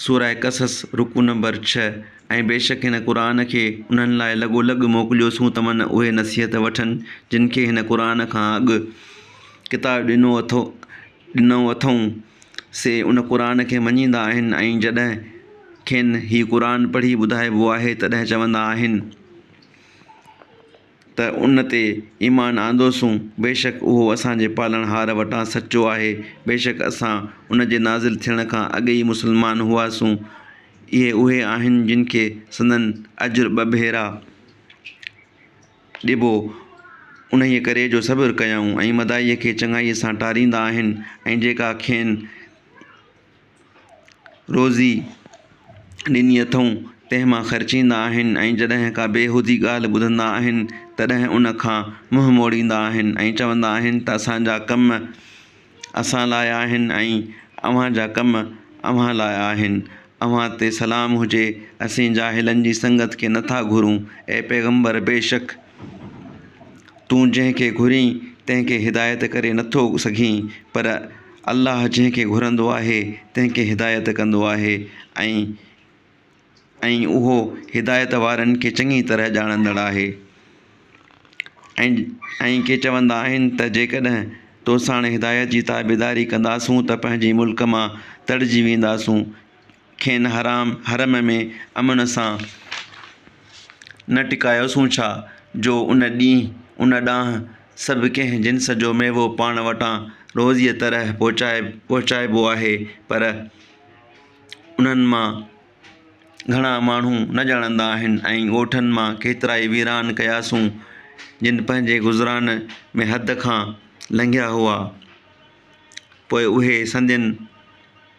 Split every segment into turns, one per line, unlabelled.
سورة قصص، رڪوع نمبر ڇهه، ۽ بيشڪ هن قرآن کي انهن لاء لڳو لڳ موڪليوسون تمن اهي نصيحت وٺن جن کي هن قرآن کان اڳ ڪتاب ڏنو ڏنو اٿئون، سي ان قرآن کي مڃيندا آهن ۽ جڏهن کين هي قرآن پڙهي ٻڌائبو آهي تڏهن چوندا آهن. ته ان تي ايمان آندوسون، بيشڪ اهو اسان جي پالڻهار وٽان سچو آهي، بيشڪ اسان ان جي نازل ٿيڻ کان اڳ ئي مسلمان هئاسون، اهي اهي آهن جن کي سندن اجر ٻه ڀيرا ڏبو، انهيء ڪري جو صبر ڪيائون ۽ مداحيء کي چڱائيء سان ٽاريندا آهن ۽ جيڪا کين روزي ڏني اٿئون، تنهن مان خرچيندا آهن ۽ جڏهن ڪا بيهودي ڳالهه ٻڌندا آهن، تڏهن ان کان منهن موڙيندا آهن ۽ چوندا آهن ته اسان جا ڪم اسان لاء آهن ۽ اوهان جا ڪم اوهان لاء آهن. اوهان تي سلام هجي، اسين جاهلن جي سنگت کي نه ٿا گهرون. اي پيغمبر! بيشڪ تون جنهن کي گهرين، تنهن کي هدايت ڪري نه ٿو سگهين، پر الله جنهن کي گهرندو آهي تنهن کي هدايت ڪندو آهي ۽ ۽ اهو هدايت وارن کي چڱي طرح ڄاڻندڙ آهي ۽ ۽ ڪي چوندا آهن ته جيڪڏهن توسان هدايت جي تابعداري ڪنداسون ته پنهنجي ملڪ مان تڙجي وينداسون کين حرام حرم ۾ امن سان نه ٽڪايوسون ڇا جو ان ڏينهن ان ڏانهن سڀ ڪنهن جنس جو ميوو پاڻ وٽان روزيء طرح پهچائي پهچائبو آهي پر انهن مان گهڻا ماڻهو نه ڄاڻندا آهن ۽ ڳوٺن مان ڪيترائي ويران ڪياسون جن پنهنجي گذران ۾ حد کان لنگهيا هئا پوء اهي سندين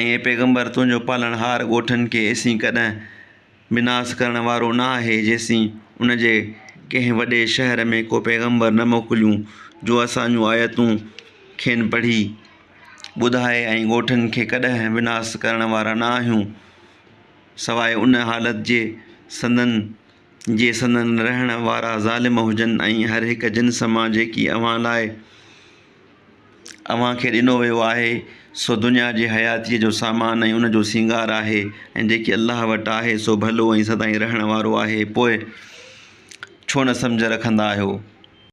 ۽، اي پيغمبر، تنهنجو پالڻهار ڳوٺن کي ايسين ڪڏهن به ناس ڪرڻ وارو نه آهي جيسين ان جي ڪنهن وڏي شهر ۾ ڪو پيغمبر نه موڪليون جو اسان جون آيتون کين پڙهي ٻڌائي ۽ ڳوٺن کي ڪڏهن به ناس ڪرڻ وارا نه آهيون سواء ان حالت جي سندن جي سندن رهڻ وارا ظالم هجن ۽ هر هڪ جنس مان جيڪي اوهان لاء اوهان کي ڏنو ويو آهي، سو دنيا جي حياتيء جو سامان ۽ ان جو سينگار آهي، ۽ جيڪي الله وٽ آهي، سو ڀلو ۽ سدائين رهڻ وارو آهي، پوء ڇو نه سمجهه رکندا آهيو؟